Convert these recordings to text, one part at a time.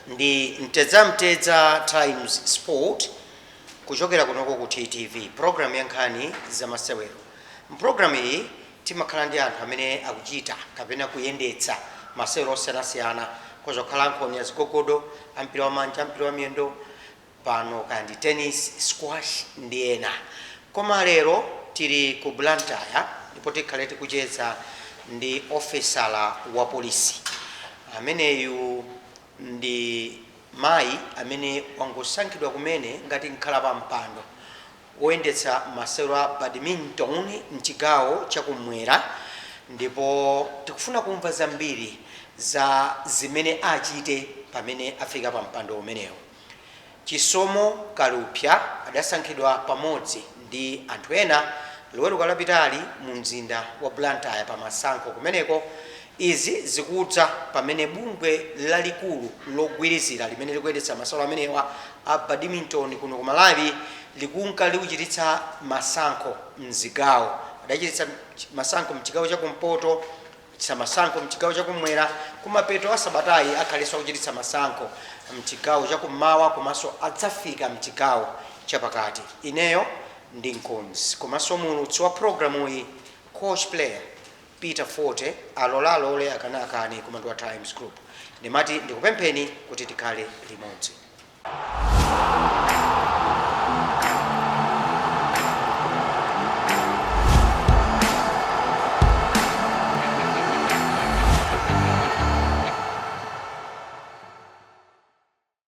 ndi Mtedzamtedza Times Sport kuchokera kunoko ku TTV, programu ya nkhani zamasewero. Mu programu iyi Timakhala ndi anthu amene akuchita kapena kuyendetsa masewero osiyanasiyana, akhoza kukhala ankhonya, zigogodo, ampira wamanja, ampira wamiyendo, pano kaya ndi tennis, squash ndi ena. Koma lero tili ku Blantyre ndipo tikhale tikucheza ndi ofesala wa polisi. Ameneyu ndi mayi amene wangosankhidwa kumene ngati mkhalapampando woyendetsa masewero a Badminton m'chigawo cha kummwera ndipo tikufuna kumva zambiri za zimene achite pamene afika pa mpando umenewo. Chisomo Kalupsa adasankhidwa pamodzi ndi anthu ena Loweruka lapitali mu mzinda wa Blantyre pa masankho kumeneko Izi zikudza pamene bungwe lalikulu logwirizira limene likuyendetsa masewero amenewa a Badminton kuno ku Malawi likunka likuchititsa masankho m'zigawo. Adachititsa masankho m'chigawo cha kumpoto, achititsa masankho m'chigawo cha kumwera, kumapeto a sabatayi akhalenso akuchititsa masankho m'chigawo cha kummawa komanso adzafika m'chigawo chapakati. Ineyo ndi mkonzi komanso muulutsi wa programuyi, Coach Player. Peter 40 alole alole akane akane koma ndi wa times group ndimati ndikupempheni kuti tikhale limodzi.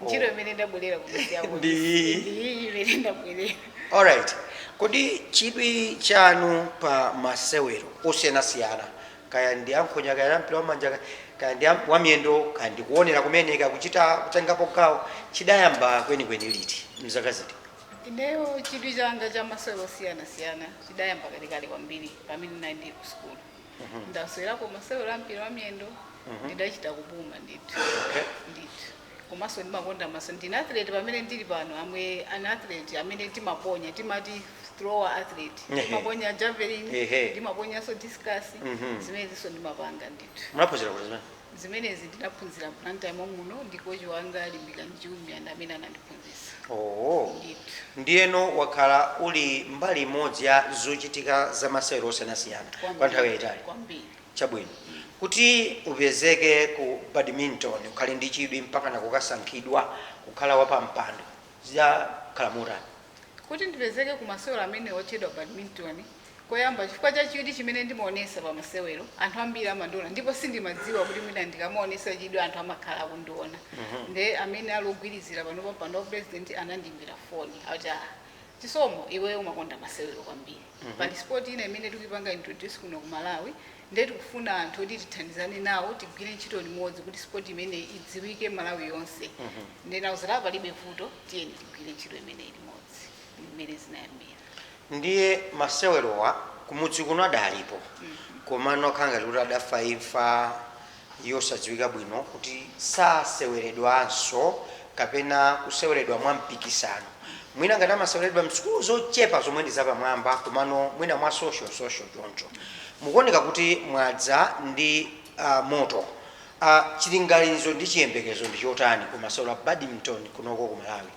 ntchito imene ndabwerera kumidzi yako Ndi iyi. ndi iyi imene ndabwerera alright kodi chidwi chanu pa masewero osiyanasiyana kaya ndi ankhonya kaya ndi ampira wamanja kaya ndi am- wamiyendo kaya ndi kuonera kumene kaya kuchita kutengapo gawo chidayamba kwenikweni liti mzaka ziti ineyo chidwi changa cha masewero osiyanasiyana chidayamba kalekale kwambiri pamene ndinali ku sukulu ndasewerapo masewero a mpira wa miyendo ndidachita kupuma ndithu Okay. ndithu komanso ndimakonda ma- so ndine athlete pamene ndili pano I'm an athlete amene timaponya timati thrower athlete Ehe. ndimaponya javelin Ehe. ndimaponyanso discus zimenezinso ndimapanga ndithu munaphunzira kuti zimene zimenezi ndinaphunzira blantyre mommuno ndi kochi wanga limbikani chiumia ndi amene anandiphunzitsa Oh. ndithu ndiyeno wakhala uli mbali imodzi ya zochitika za masewero osiyanasiyana kwa nthawi yayitali kwambiri chabwino kuti upezeke ku badminton ukhale ndi chidwi mpaka nakukasankhidwa kukhala wapampando zidakhala motani kuti ndipezeke ku masewero amene otchedwa badminton koyamba chifukwa cha chidwi chimene ndimaonesa pa masewero. Anthu ambiri amandiona ndipo sindimadziwa kuti mwina ndikamaonesa chidwi anthu amakhala akundiona. Nde amene ali ogwirizira pano pampando wa pulezidenti anandiimbira foni akuti ah, Chisomo iweyo umakonda masewero kwambiri. Pali sport ina imene tikuipanga introduce kuno ku Malawi nde tikufuna anthu oti tithandizane nawo tigwire ntchito limodzi kuti sport imeneyi idziwike Malawi yonse. Nde ndinawauza kuti ah, palibe vuto tiyeni tigwire ntchito imeneyi limodzi. Ndi mmene zinayambira. Ndiye masewerowa kumudzi kuno adalipo komano akhala ngati kuti adafa imfa yosadziwika bwino kuti saseweredwanso kapena kuseweredwa mwa mpikisano. Mwina ngati amaseweredwa m'sukulu zochepa zomwe ndi zapamwamba komano mwina mwa social social choncho. Mukuoneka kuti mwadza ndi ah, moto. Ah, chilinganizo ndi chiyembekezo ndi chotani ku masewero a badminton kunoko ku Malawi?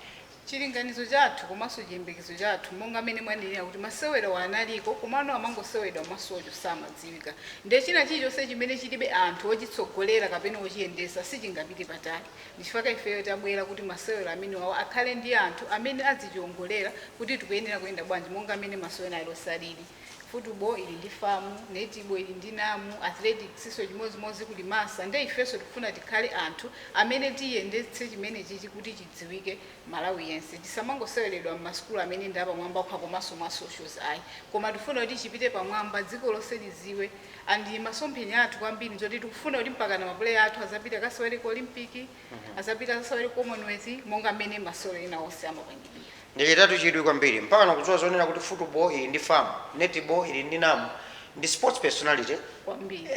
Chilinganizo chathu komanso chiyembekezo chathu monga mene mwanenera kuti masewerawa analiko komano amangoseweredwa mwa social samadziwika nde china chilichonse chimene chilibe anthu ochitsogolera kapena ochiyendesa sichingapite patali ndichifukwa ifeyo tabwera kuti masewero amenewawa akhale ndi anthu amene adzichiongolera kuti tikuyenera kuyenda bwanji monga mene masewero alionse alili football ili ndi FAM, netball ili ndi NAM, athletics nso chimodzimodzi kuli MASA nde ifenso tikufuna tikhale anthu amene tiyendetse chimenechichi kuti chidziwike Malawi yense. Chisamangoseweredwa mma sukulu amene ndi apamwamba okha komanso mwa socials ayi koma tikufuna kuti chipite pamwamba dziko lonse liziwe and masomphenya athu kwambiri nzoti tikufuna kuti mpakana ma player athu azapite akasewere ku Olympic, azapite akasewere ku Commonwealth monga mmene masewero ena onse amapangidwira. Ndachitatu chidwi kwambiri mpaka nakudziwa zonena kuti football ili ndi FAM, netball ili ndi NAM ndi sports personality kwambiri.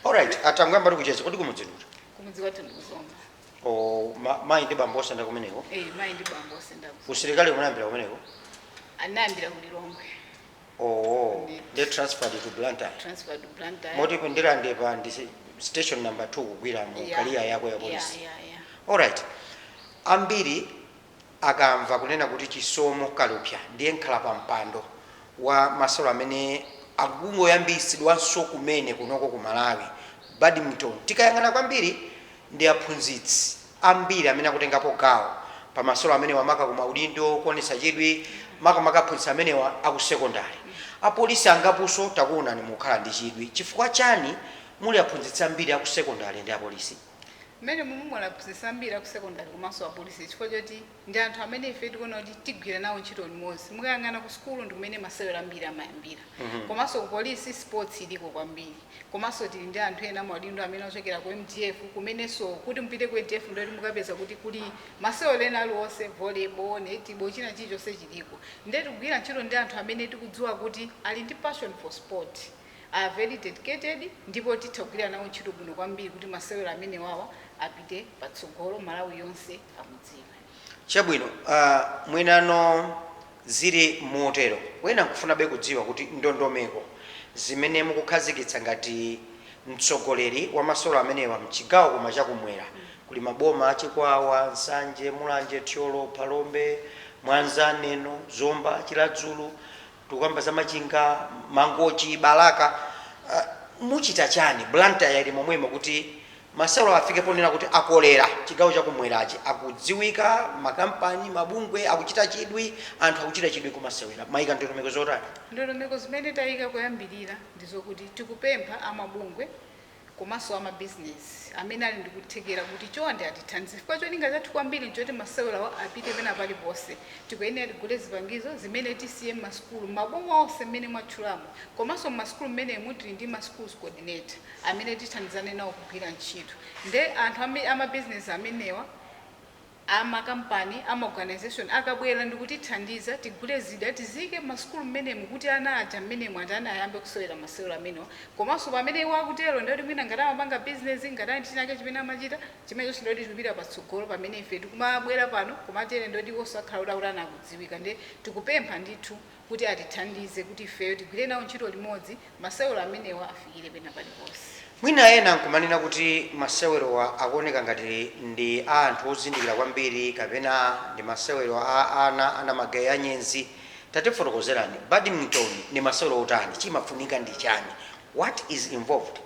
Alright, ah, tangoyambatu kucheza. Kodi kumudzi ndi kuti? Kumudzi kwathu ndi ku Zomba. Oh, ma, mayi ndi bambo onse nda kumeneko. Eh, mayi ndi bambo onse nda ku Zomba. Usilikali unayambira kumeneko. Ndinayambira ku Lilongwe. Owo Ndithu. nde transferred to Blantyre transferred to Blantyre. moti ku Ndirande pa ndi station number 2 kugwira mu Yeah, career yako ya yeah, polisi yeah, yeah. alright ambiri akamva kunena kuti chisomo kalupya ndiye nkhala pa mpando wa masewero amene akungoyambitsidwanso kumene kunoko ku malawi badminton tikayang'ana kwambiri ndi aphunzitsi Ambiri amene akutengapo gawo pa masewero amenewa maka ku maudindo kuonetsa chidwi makamaka aphunzitsi amenewa aku sekondale. Apolisi angaponso takuonani mukukhala ndi chidwi. Chifukwa chani muli aphunzitsi ambiri aku sekondale ndi apolisi? Mmene mumu muli aphunzitsi ambiri aku sekondale komanso apolisi chifukwa choti. Ndi anthu amene ife tikuona kuti tigwira nawo ntchito limodzi. Mukayang'ana ku sukulu ndi kumene masewero ambiri amayambira. Komanso ku polisi sports iliko kwambiri. Komanso tili ndi anthu ena amaudindo amene ochokera ku mdf kumenenso kuti mupite ku mdf ndiye kuti mukapeza kuti kuli masewero ena aliwonse volleyball, netball china chilichonse chiliko. Ndiye tikugwira ntchito ndi anthu amene tikudziwa kuti ali ndi passion for sport. are very dedicated ndipo titha kugwira nawo ntchito bwino kwambiri kuti masewero amenewawa apite patsogolo Malawi yonse awadziwe. Chabwino, ah, mwinano zili motero wena nkufunabe kudziwa kuti ndondomeko zimene mukukhazikitsa ngati mtsogoleri wa masewero amenewa mchigawo koma chakumwera kuli maboma a Chikwawa, Nsanje, Mulanje, Thyolo, Phalombe, Mwanza, Neno, Zomba, Chiradzulu Tikukamba za Machinga, Mangochi, Balaka, muchita chani? Blantyre ili momwemo kuti masewerawa afike ponena kuti akolera chigawo cha kumwerachi. Akudziwika, makampani, mabungwe akuchita chidwi, anthu akuchita chidwi kumasewera. Mwaika ndondomeko zotani? Ndondomeko zimene taika kuyambirira ndi zokuti tikupempha a mabungwe, komanso a mabizinezi amene ali ndi kuthekera kuti chonde atithandize chifukwa cholinga chathu kwambiri nchoti masewerawa apite pena paliponse. Tikuyenera tigule zipangizo zimene tisiye m'masukulu m'maboma onse mmene mwatchulamo komanso m'masukulu mmenemu tili ndi ma schools coordinator amene tithandizane nawo kugwira ntchito nde anthu amabizinezi amenewa a makampani, a maorganization akabwera ndikutithandiza tigule zida tiziike mmasukulu mmenemu kuti ana aja mmenemu atani ayambe kusewera masewero amenewa komanso pamene iwo akutero ndekuti mwina ngati amapanga business ngati ali ndi chinake chimene amachita chimenechonso ndekuti chikupita patsogolo pamene ife tikumabwera pano kumatero ndekuti iwonso akhala kuti akutani akudziwika nde tikupempha ndithu kuti atithandize kuti ifeyo tigwire nawo ntchito limodzi masewero amenewa afikire pena paliponse. Mwina ena n'kumanena kuti masewerawa akuoneka ngati ndi a anthu ozindikira kwambiri kapena ndi masewero a ana amagayi, anyenzi. Tatifotokozerani, badminton ndi masewero otani? Chimafunika ndi chani? What is involved?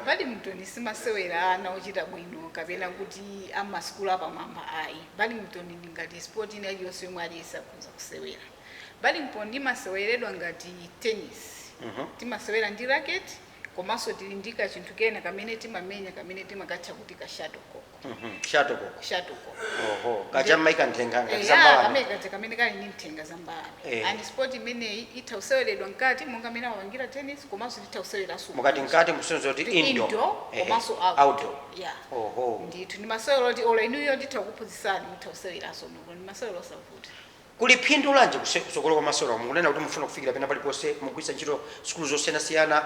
Badminton si masewera a ana ochita bwino kapena kuti a m'masukulu apamwamba ayi. Badminton ndi ngati sport ina iliyonse yomwe aliyense akhonza kusewera. Badminton imaseweredwa ngati tennis. Timasewera ndi racket komanso tili ndi kachinthu kena kamene timamenya kamene timakatcha kuti ka shuttlecock. Shuttlecock? Shuttlecock. Oho. Kaja mmaika nthenga ngati za mbalame. Eya, kamene kaja kamene kali ndi nthenga za mbalame. And sport imeneyi itha kuseweredwa mkati monga mmene amapangira tennis komanso titha kuseweranso kunja. Mukati mkati mukusonyeza kuti indoor. Tili indoor komanso outdoor. Outdoor. Yeah. Oho. Ndithu. Ndi masewero oti olo inuyo nditha kukuphunzitsani mutha kuseweranso muno. Ndi masewero osavuta. Kuli phindu lanji kutsogolo kwa masewerawa? Mukunena kuti mufuna kufikira pena paliponse mugwiritsa ntchito sukulu zosiyanasiyana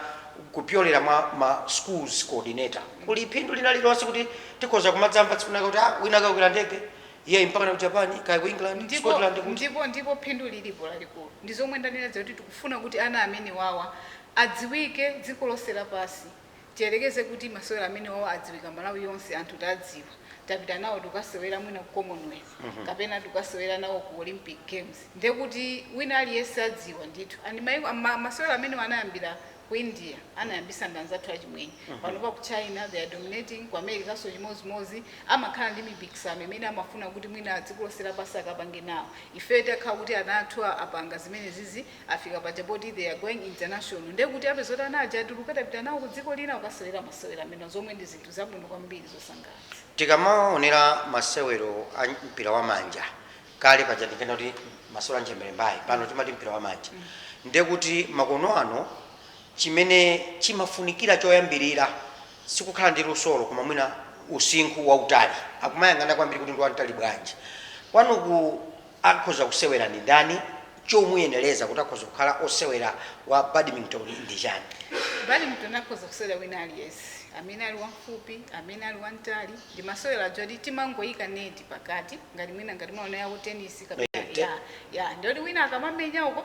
kupyolera mwa ma Schools Coordinator. Kuli phindu lina lililonse kuti tikhoza kumadzamva tsiku linalake kuti ah wina akakwera ndege iyayi mpakana ku Japan, kaya ku England, ku Ndipo, Scotland, kuti. ndipo, ndipo phindu lilipo lalikulu. Ndi zomwe ndanena zija kuti tikufuna kuti ana amenewawa adziwike dziko lonse lapansi. Tiyerekeze kuti masewero amenewawa adziwika Malawi yonse, anthu tadziwa, tapita nawo tikukasewera mwina ku Commonwealth kapena tikukasewera nawo ku Olympic Games, ndiye kuti wina aliyense adziwa ndithu. And mayiko, ma, masewero amenewa anayambira ku India, anayambitsa ndi anzathu achimwenye. Panopa ku China they are dominating, ku Americanso chimodzimodzi, amakhala ndi mipikisano imene amafuna kuti mwina a dziko lonse lapansi akapange nawo. Ifeyo tikakhala kuti ana athu a, apanga zimenezizi, Afika paja poti they are going international ndiye kuti apeza kuti ana aja atuluka tapita nawo ku dziko lina kukasewera masewero amenewa zomwe ndi zinthu zabwino kwambiri zosangalatsa. Tikamaonera masewero a mpira wa manja kale paja tikena kuti masewero a ntchembere mbaye pano timati mpira wa manja ndiye kuti makono ano chimene chimafunikira choyambirira sikukhala ndi lusolo koma mwina usinkhu wautali akumayang'ana kwambiri kuti ndi wamtali bwanji kwanuku Akhoza kusewera ndi ndani? Chomuyenereza kuti akhoza kukhala osewera wa badminton ndi chani? Badminton akhoza kusewera wina aliyense. Amene ali wamfupi, amene ali wamtali, ndi masewero aja oti timangoyika neti pakati ngati mwina ngati mwaona yaku tennis kapena Eti. ya ya ndi oti wina akamamenya uko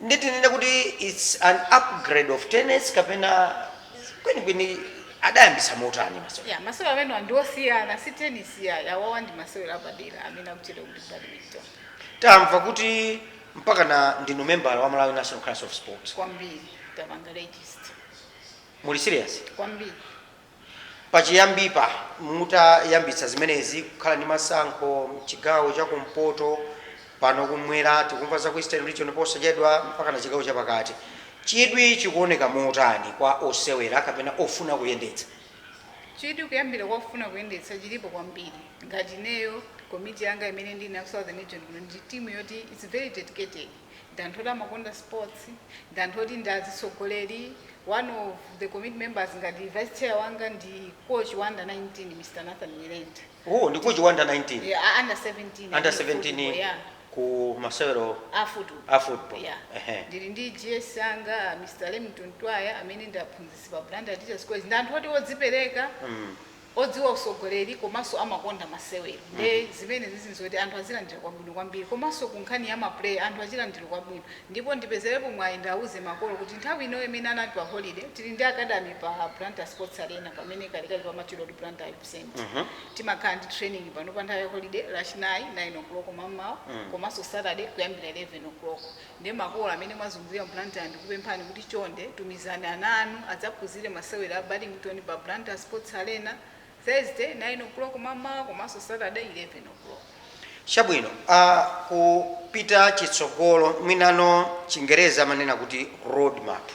Nde tinene kuti its an upgrade of tennis kapena kwenikweni adayambitsa motani masewero? Yeah, masewero amenewa ndi osiyana si tennis iyayi, awawa ndi masewero apadera amene akutchedwa kuti badminton. Tamva kuti mpakana ndinu membala wa Malawi National Council of Sports. Kwambiri, tapanga register. Muli serious? Kwambiri. Pachiyambipa mutayambitsa zimenezi, kukhala ndi masankho chigawo cha kumpoto, pano kummwera, tikumva za ku Eastern Region posachedwa, mpakana chigawo cha pakati, chidwi chikuoneka motani kwa osewera kapena ofuna kuyendetsa? Chidwi kuyambira kwa ofuna kuyendetsa chilipo kwambiri. Ngati ineyo, komiti yanga imene ndili nayo ku Southern Region kuno ndi timu yoti it's very dedicated. ndi anthu oti amakonda sports, ndi anthu oti ndi azitsogoleri, one of the committee members ngati vice chair wanga ndi coach wa under 19 Mr Nathan Nyirenda. Oh, ndi coach wa under 19? Yeah, a- under 17. Under I think, 17 football, yeah. ku masewero a football. Yeah. Ehe. ndili ndi gs wanga Mr Lemington Twaya amene ndi aphunzitsi pa Blantyre Teachers College ndi anthu oti odzipereka Mm. odziwa usogoleri komaso amakonda masewero nde zimenezi zinthu zoti anthu azilandira kwabwino kwambiri komaso ku nkhani ya ma player anthu azilandira kwabwino ndipo ndipezelepo mwayi ndiwauze makolo kuti nthawi ino imene ana ali pa holiday tili ndi academy pa Blantyre sports arena pamene kalekale pamatchedwa kuti Blantyre Youth Centre timakhala ndi training pano pa nthawi ya holiday lachinayi 9:00 mammawa komaso Saturday kuyambira 11:00 Nde makolo amene mwazungulira Blantyre ndikupemphani kuti chonde tumizani ana anu adzaphunzire masewera a badminton pa Blantyre Sports Arena Thursday 09:00 mammawa komanso Saturday 11:00. Chabwino, a kupita chitsogolo, mwinano chingerezi amanena kuti roadmap,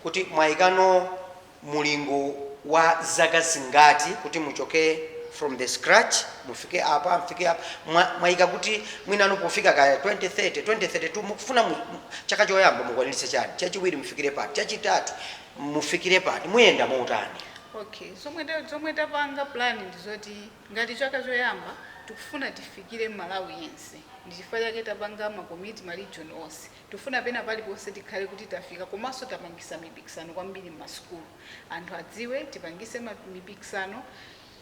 kuti mwayikano. mulingo wa zaka zingati kuti muchoke from the scratch mufike apa mfike apa mwa, mwaika kuti mwinano pofika kaya 2030 2032 mukufuna mu, chaka choyamba mukwaniritse chani chachiwiri mufikire pati chachitatu mufikire pati muyenda motani okay zomwe ta- zomwe tapanga plan ndi zoti ngati chaka choyamba tikufuna tifikire malawi yense ndi chifukwa chake tapanga makomiti ma region onse Tifuna pena paliponse tikhale kuti tafika komaso tapangisa mipikisano kwambiri mma sukulu anthu adziwe tipangise mipikisano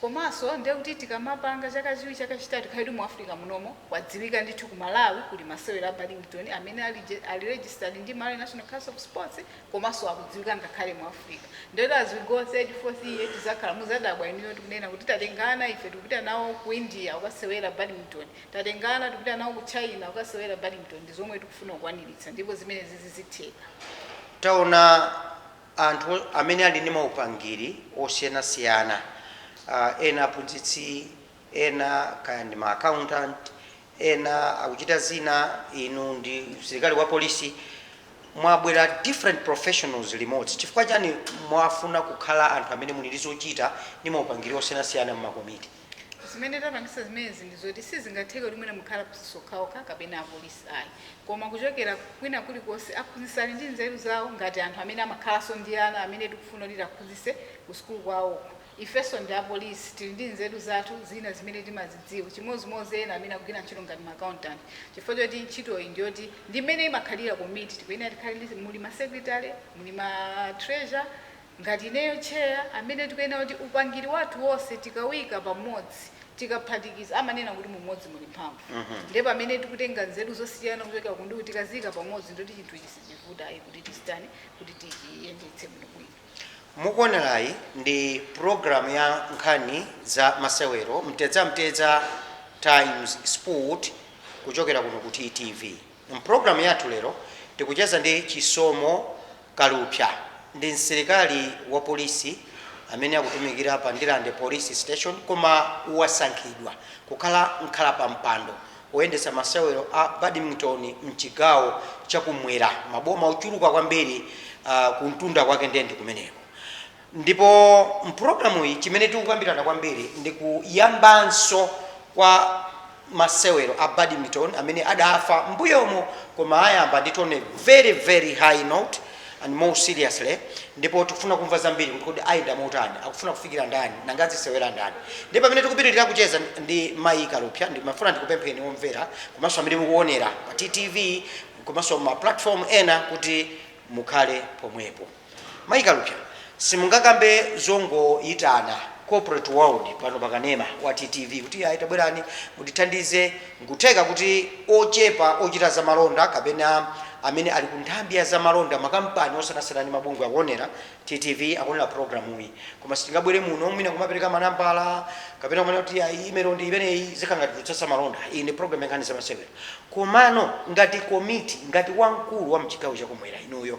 komaso ndiye kuti tikamapanga chaka chiwiri chaka chitatu tikhale kuti mu Africa munomo kwadziwika ndithu ku Malawi kuli masewero a badminton amene ali registered ndi Malawi National Council of Sports komaso akudziwika ngakhale mu Africa ndiye kuti as we go third fourth year tizakhala muzadabwa inuyo tikunena kuti tatenga ana ife tikupita nawo ku India kukasewera badminton Tatenga ana tikupita nawo ku China kukasewera badminton ndi zomwe tikufuna kukwaniritsa ndipo zimenezizi zitheka. Taona anthu amene ali ndi maupangiri osiyanasiyana, ena aphunzitsi, ena kaya ndi ma accountant, ena akuchita zina, inu ndi msilikali wa polisi, mwabwera different professionals limodzi. Chifukwa chani mwafuna kukhala anthu amene muli ndi zochita ndi maupangiri osiyanasiyana mmakomiti? Zimene tapangisa zimenezi ndizoti sizingatheke kuti mwina mukhale aphunzitsi okhaokha kapena apolisi ayi koma kuchokera kwina kulikonse aphunzitsi ali ndi nzeru zawo ngati anthu amene amakhalaso ndi ana amene tikufuna kuti tiwaphunzitse ku sukulu kwawoko. Ifeso ndi apolisi tili ndi nzeru zathu zina zimene timazidziwa chimozimozi ena amene akugwira ntchito ngati ma accountant chifukwa choti ntchitoyi ndiyoti ndi mmene imakhalira komiti tikuyenera tikhale ndi muli ma secretary muli ma treasurer Ngati ineyo chair amene tikuyenera kuti upangiri wathu wonse tikaika pamodzi tikaphatikiza amanena kuti mu umodzi muli mphamvu ndiye pamene tikutenga nzeru zosiyana kuchokera ku ndi ku tikaziika pamodzi nde kuti chinthu ichi sichivuta ayi kuti tichitani kuti tichiyendetse bwino bwino. Mukuonerayi ndi program ya nkhani za masewero, Mtedzamtedza Times Sport kuchokera kuno ku TTV. M'programu yathu lero tikucheza ndi Chisomo Kalupsya. Ndi msilikali wa polisi amene akutumikira pa Ndirande Police Station koma wasankhidwa kukhala mkhalapampando woyendetsa masewero a badminton m'chigawo chakumwera, maboma ochuluka kwambiri kumtunda kwake ndiye ndi kumeneko. Ndipo m'programuyi chimene tikukambirana kwambiri ndi kuyambanso kwa masewero a badminton amene adafa m'mbuyomo koma ayamba ndi tone a very very high note and more seriously ndipo tikufuna kumva zambiri kuti kodi ayenda motani, akufuna kufikira ndani nanga azisewera ndani. Ndiye pamene tikupitirira kucheza ndi Mayi Kalupsya ndimafuna ndikupempheni omvera komanso amene mukuonera pa TTV komanso ma platform ena kuti mukhale pomwepo. Mayi Kalupsya simungakambe zongoyitana corporate world pano pa kanema wa TTV kuti ayi tabwerani mutithandize nkutheka kuti ochepa ochita za malonda kapena amene ali ku nthambi ya za malonda makampani osiyanasiyana ndi mabungwe akuonera TTV akuonera programuyi koma sitingabwere muno mwina kumapereka manambala kapena kumene kuti ayi email ndi imeneyi zikhala ngati kutsatsa malonda iyi ndi program ya nkhani za masewero komano ngati komiti ngati wamkulu wa mchigawo chakumwera inuyo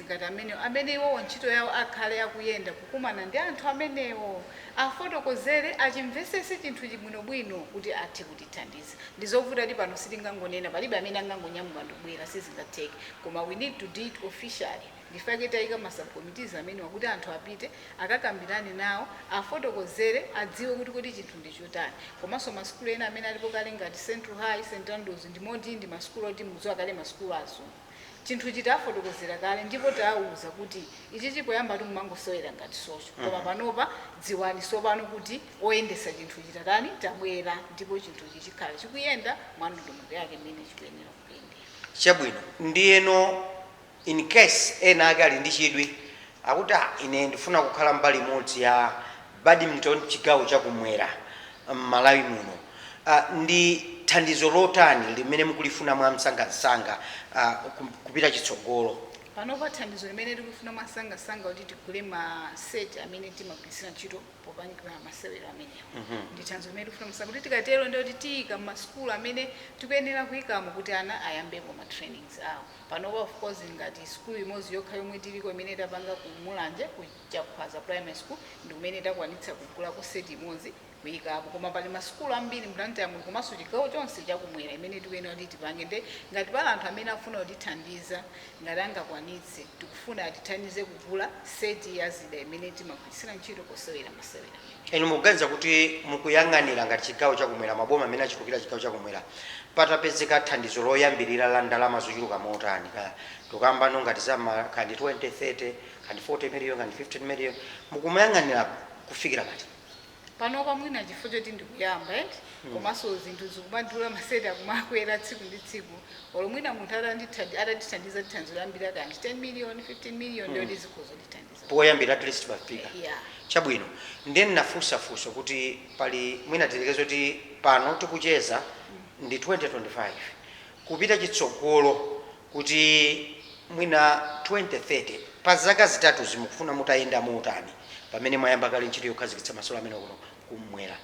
ngati amenewo, amene iwowo ntchito yawo akhale akuyenda kukumana ndi anthu amenewo, afotokozere, achimvesese chinthuchi bwinobwino kuti athe kutithandiza. Ndizovutadi pano sitingangonena, palibe amene angangonyamuka ndikubwera, sizingatheke. Koma we need to do it officially. Ndi chifukwa chake tayika ma subcommittees amenewa kuti anthu apite, akakambirane nawo, afotokozere, adziwe kuti kodi chinthu ndi chotani. Komanso ma sukulu ena amene alipo kale ngati Central High, St Andrews ndi moti ndi ma sukulu oti mudziwa kale ma sukulu a azungu. chinthu ichi tawafotokozera kale ndipo tawauza kuti ichichi poyambatu mumangosewera ngati social koma panopa dziwani sopano kuti oyendesa chinthu ichi tatani tabwera ndipo chinthu ichi chikhala chikuyenda mwa ndondomeko yake imene chikuyenera kuyendera. Chabwino. Ndiyeno in case ena ake ali ndi chidwi Akuti, ah, ine ndifuna kukhala mbali imodzi ya badminton chigawo cha kumwera m'Malawi muno. Ah, ndi thandizo lotani limene mukulifuna mwamsangamsanga, ah, ku, kupita chitsogolo? Panopa thandizo limene tikulifuna mwamsangamsanga ndi kuti tigule ma set amene timagwiritsira ntchito popangira masewero amenewa. Ndi thandizo limene tikufuna mwamsanga kuti tikatero ndiye kuti tiika m'masukulu amene tikuyenera kuikamo kuti ana ayambepo ma trainings awo. Panopa of course ngati sukulu imodzi yokha yomwe tiliko imene tapanga ku Mulanje ku Chakhwaza primary school ndikumene takwanitsa kugulako seti imodzi kuyikapo koma pali ma sukulu ambiri mu Blantyre muno komanso chigawo chonse chakumwera imene tikuyenera kuti tipange nde ngati pali anthu amene akufuna kutithandiza ngati angakwanitse tikufuna atithandize kugula seti ya zida imene timagwiritsira ntchito posewera masewera Inu mukuganiza kuti mukuyang'anira ngati chigawo cha kumwera, maboma amene achikukira chigawo cha kumwera, patapezeka thandizo loyambirira la ndalama zochuluka motani, kaya tikukambano ngati za ma, kaya ndi 20, 30, kaya ndi 40 million, kaya ndi 15 million, mukumayang'anira kufikira pati? Panopa mwina chifukwa choti ndikuyamba eti, komanso zinthu zikumadula, ma set akumakwera tsiku ndi tsiku, olo mwina munthu atatitha- atatithandiza ndi thandizo loyambirira kaya ndi 10 million, 15 million, ndiye kuti zikhoza kutithandiza. poyambira at least pofika yeah. chabwino ndiye ndinafunsa funso kuti pali mwina tilekeze kuti pano tikucheza ndi 2025 kupita chitsogolo kuti mwina 2030 pa zaka zitatu zimukufuna mutayenda motani pamene mwayamba kale ntchito yokhazikitsa masewero amene kuno kumwera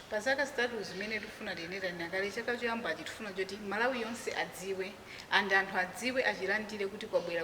pa zaka zitatu zimene tifuna tiyendera nakale chaka choyambachi tifuna kuti malawi yonse adziwe and anthu adziwe achilandire kuti kwabwera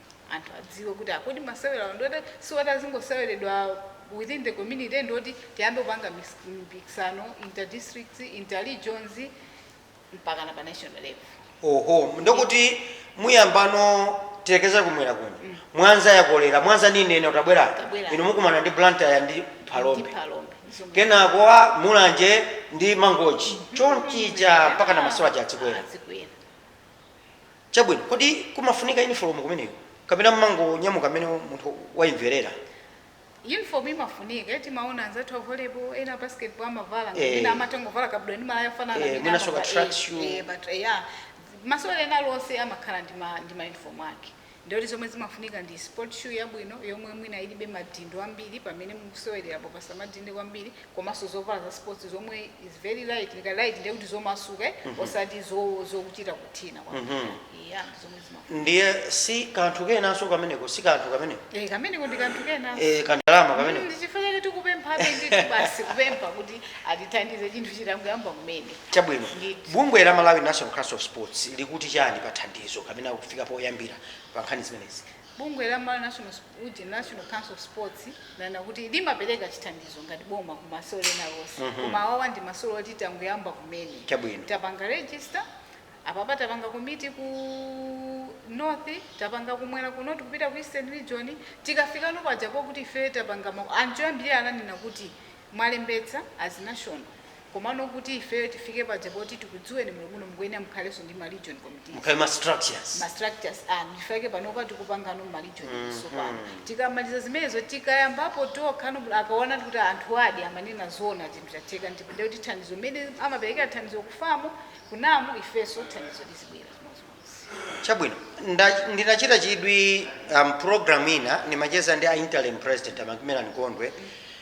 anthu adziwe kuti ah, kodi masewerawa ndi oti si oti azingoseweredwa within the community ndi oti tiyambe kupanga mis- mpikisano interdistricts interregions mpaka na pa national level oho ndokuti muyambano tilekeza kumwera kuno mwanza yakolera mwanza nini ene utabwera Utabwera. inu mukumana ndi blantyre ndi ndi phalombe palombe Zomwe- kenako wa mulanje ndi mangochi chonchija mpakana masewera aja adzikwera adzikwera Chabwino, kodi kumafunika yunifolomu kumeneko kapena mumangonyamuka mmene munthu wayimverera? Yunifolomu imafunika. Timaona anzathu a volleyball, ena a basketball amavala ngati mwina Eh. amatha kungovala kabudula ndi malaya ofanana Eh, amene mwina soccer amavala. track Eh, shoe. eh, but, eh, yeah. Masewera ena aliwonse amakhala ndi ma- ndi mayunifomu ake. Ndiyoti zomwe zimafunika ndi sport shoe yabwino yomwe mwina ilibe madindo ambiri pamene mukusewererapo pasamadinde kwambiri komanso zovala za sports zomwe is very light nika light ndiye kuti zomasuka eh? osati zo- zokuchita kuthina kwa yeah, zomwe zimafunika ndiye si kanthu kenanso kameneko si kanthu kameneko eh, kameneko ndi kanthu kenanso Eh, kandalama kameneko Mm, chifukwa chake tikupemphabe ndithu basi kupempha kuti atithandize chinthu chitangoyamba kumene chabwino Ndithu. bungwe la malawi national council of sports likuti chani pa thandizo kapena kufika poyambira pa nkhani zimenezi Bungwe la Malawi National Ujeni, National Council of Sports, lanena kuti limapereka chithandizo ngati boma ku masewero ena aliwonse mm -hmm. koma awawa ndi masewero oti tangoyamba kumene tapanga register apapa tapanga komiti ku north tapanga kumwera kuno tikupita ku eastern region tikafika no pajapo kuti ife tapanga anthu ambiri ananena kuti mwalembetsa as national komano kuti ifeyo tifike paja kuti tikudziweni bwino bwino mukuyenera mukhalenso ndi ma region committees mukhale ma structures ma structures anu chifukwa chake panopa tikupangano ma region tsopano tikamaliza zimenezo tikayambapo tokhano kuti akaona kuti anthu ajadi amanena zoona chinthu chatheka ndipo ndiye kuti thandizo mmene amaperekera thandizo kufamu kunamu ifenso thandizo lizibwera chimodzimodzi chabwino nda- ndinachita chidwi um, program ina ndimacheza ndi a interim president amakimelani kondwe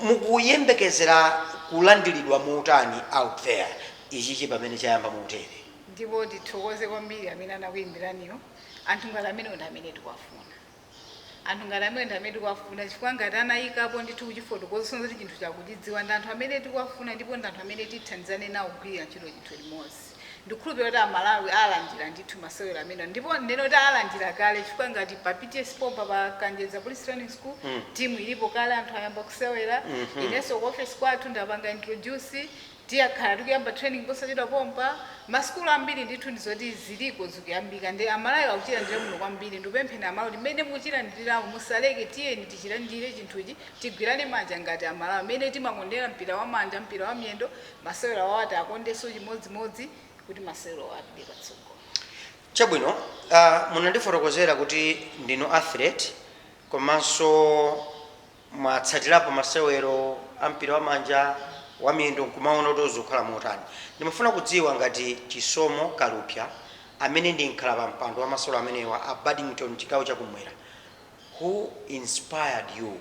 Mukuyembekezera kulandiridwa motani out there ichichi pamene chayamba motere? Ndipo tithokoze kwambiri amene anakuyimbiraniwo. Anthu ngati amenewo ndi amene tikuwafuna. Anthu ngati amenewo ndi amene tikuwafuna chifukwa ngati anayikapo ndithu kuchifotokoza kusonyeza kuti chinthucho akuchidziwa ndi anthu amene tikuwafuna ndipo ndi anthu amene tithandizane nawo kugwirira ntchito chinthu limodzi. Ndikukhulupira kuti amalawi alandira ndithu masewero amenewa ndipo ndinene kuti alandira kale chifukwa ngati pa PTS pompa pa Kanjedza Police Training School mm. timu ilipo kale anthu ayamba kusewera mm -hmm. inenso ku office kwathu ndapanga introduce tikhala tikuyamba training posachedwa pompa masukulu ambiri ndithu ndizoti ziliko zikuyambika ndi amalawi akuchilandira muno kwambiri ndikupempheni amalawi mmene muchilandiriramu musaleke tiyeni tichilandire chinthuchi tigwirane manja ngati amalawi mmene timakondera mpira wa manja mpira wa miyendo masewero awawa tiwakondenso chimodzimodzi kuti masewero awa apite patsogolo. Chabwino, uh, munandifotokozera kuti ndinu athlete komanso mwatsatirapo masewero a mpira wa manja wa miyendo nkumaona kuti zikukhala motani. Ndimafuna kudziwa ngati Chisomo Kalupya amene ndi mkhalapampando wa masewero amenewa a Badminton chigawo chakumwera who inspired you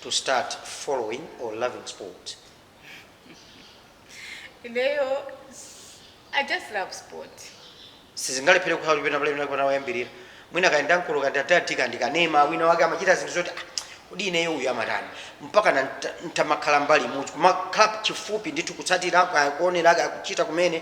to start following or loving sports ineyo s- i just love sport sizingalephere kukhala kuti pena pamene panapona oyambirira mwina kayenda mkulu ndikanema wina wake amachita zinthu zoti "Ah, kodi ineyo uyu amatani mpaka na nta- ntamakhala mbali imodzi kumakhala chifupi ndithu kutsatira kaya kuonera kaya kuchita kumene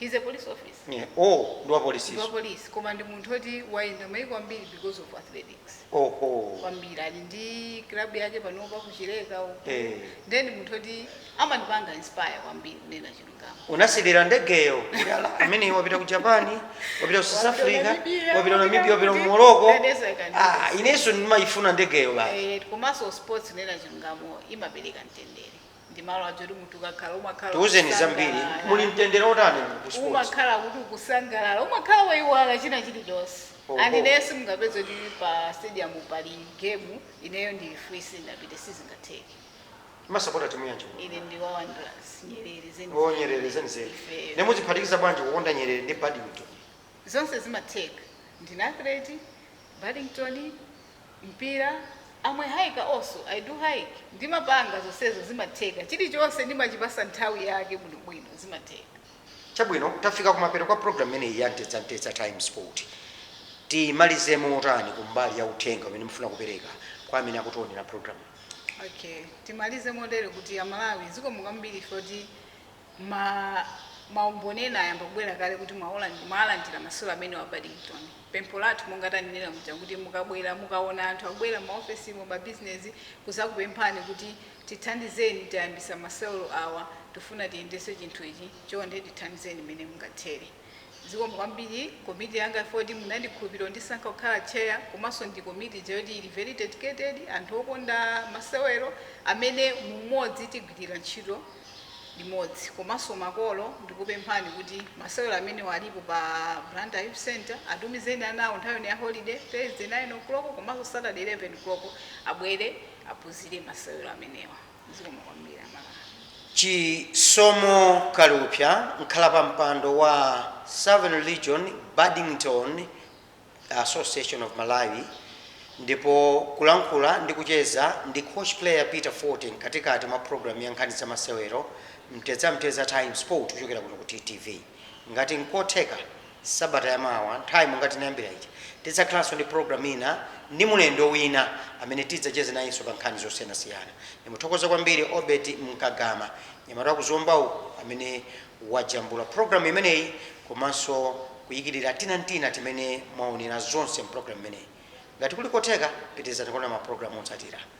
He's a police officer. Yeah. Oh, ndi wa polisi. Ndi wa police koma ndi munthu oti wayenda maiko ambiri because of athletics. Oh, oh. Kwambiri ali ndi club yake panopa ku Chileka uko. Eh. Ndi munthu oti amandipanga inspire kwambiri kunena chilungamo. Unasilira ndegeyo. Amene wapita ku Japan, wapita ku South Africa, wapita Namibia, wapita ku Morocco. Ah, inenso ndimayifuna ndegeyo basi. Eh, komanso sports kunena chilungamo imapereka mtendere. ndi malo aja oti munthu ukakhala umakhala tiuzeni zambiri ukusangalala. muli mtendere otani mu ku sports umakhala kuti ukusangalala umakhala waiwala china chilichonse Oho. and ineyo simungapeze kuti pa stadium pali game ineyo ndili free sindapite sizingatheke mumasapota timu yanji ine ndi wa wanderers nyerere zenizeni o nyerere zenizeni Ifeyo. nde muziphatikiza bwanji kukonda nyerere ndi badminton zonse zimatheka ndine athlete badminton mpira am a hiker also i do hike ndimapanga zonsezo zimatheka chilichonse ndimachipasa nthawi yake bwinobwino zimatheka. Chabwino, tafika kumapeto kwa program imeneyi ya Mtedza-mtedza Times Sport. Timalize motani kumbali ya uthenga umene mufuna kupereka kwa amene akutionera program? Okay, timalize motere kuti Amalawi zikomo kwambiri chifukwa choti Ma ma umboni ena ayamba kubwera kale kuti mwawalandira mwalandira masewero amenewa a badminton. Pempho lathu monga tanenera muja kuti mukabwera mukaona anthu akubwera mma ofesimu mabizinezi kuzakupemphani kuti tithandizeni tayambisa masewero awa tifuna tiyendese chinthu ichi chonde tithandizeni mmene mungathere. Zikomo kwambiri komiti yanga chifukwa choti munandikhulupirira n'kundisankha kukhala chair komanso ndi komiti ija yoti ili very dedicated, anthu okonda masewero amene mu umodzi tigwirira ntchito limodzi. Komanso makolo ndikupemphani kuti masewero amenewa alipo pa Blantyre Youth Centre, atumizeni ana awo nthawi ino ya holiday, Thursday 9:00 komanso Saturday 11:00 abwere aphunzire masewero amenewa. Zikomo kwambiri amalawi. Chisomo Kalupsa, mkhalapampando wa Southern Region Badminton Association of Malawi ndipo kulankhula ndi kucheza ndi Coach Player Peter Fote mkatikati mwa program ya nkhani za masewero Mtedza Mtedza Times Sport kuchokera kuno ku TTV. Ngati nkotheka Sabata ya mawa nthawi ngati tinayambira ija tidzakhalanso ndi program ina ndi mulendo wina amene tidzacheze nayenso pa nkhani zosiyanasiyana. Ndimuthokoze kwambiri Obert Mkagama nyamata wa ku Zomba uku amene wajambula program imeneyi komanso kuyikilira tina n'tina timene mwaonera zonse m'program imeneyi. Ngati kuli kotheka pitirizani kuonera ma program otsatira.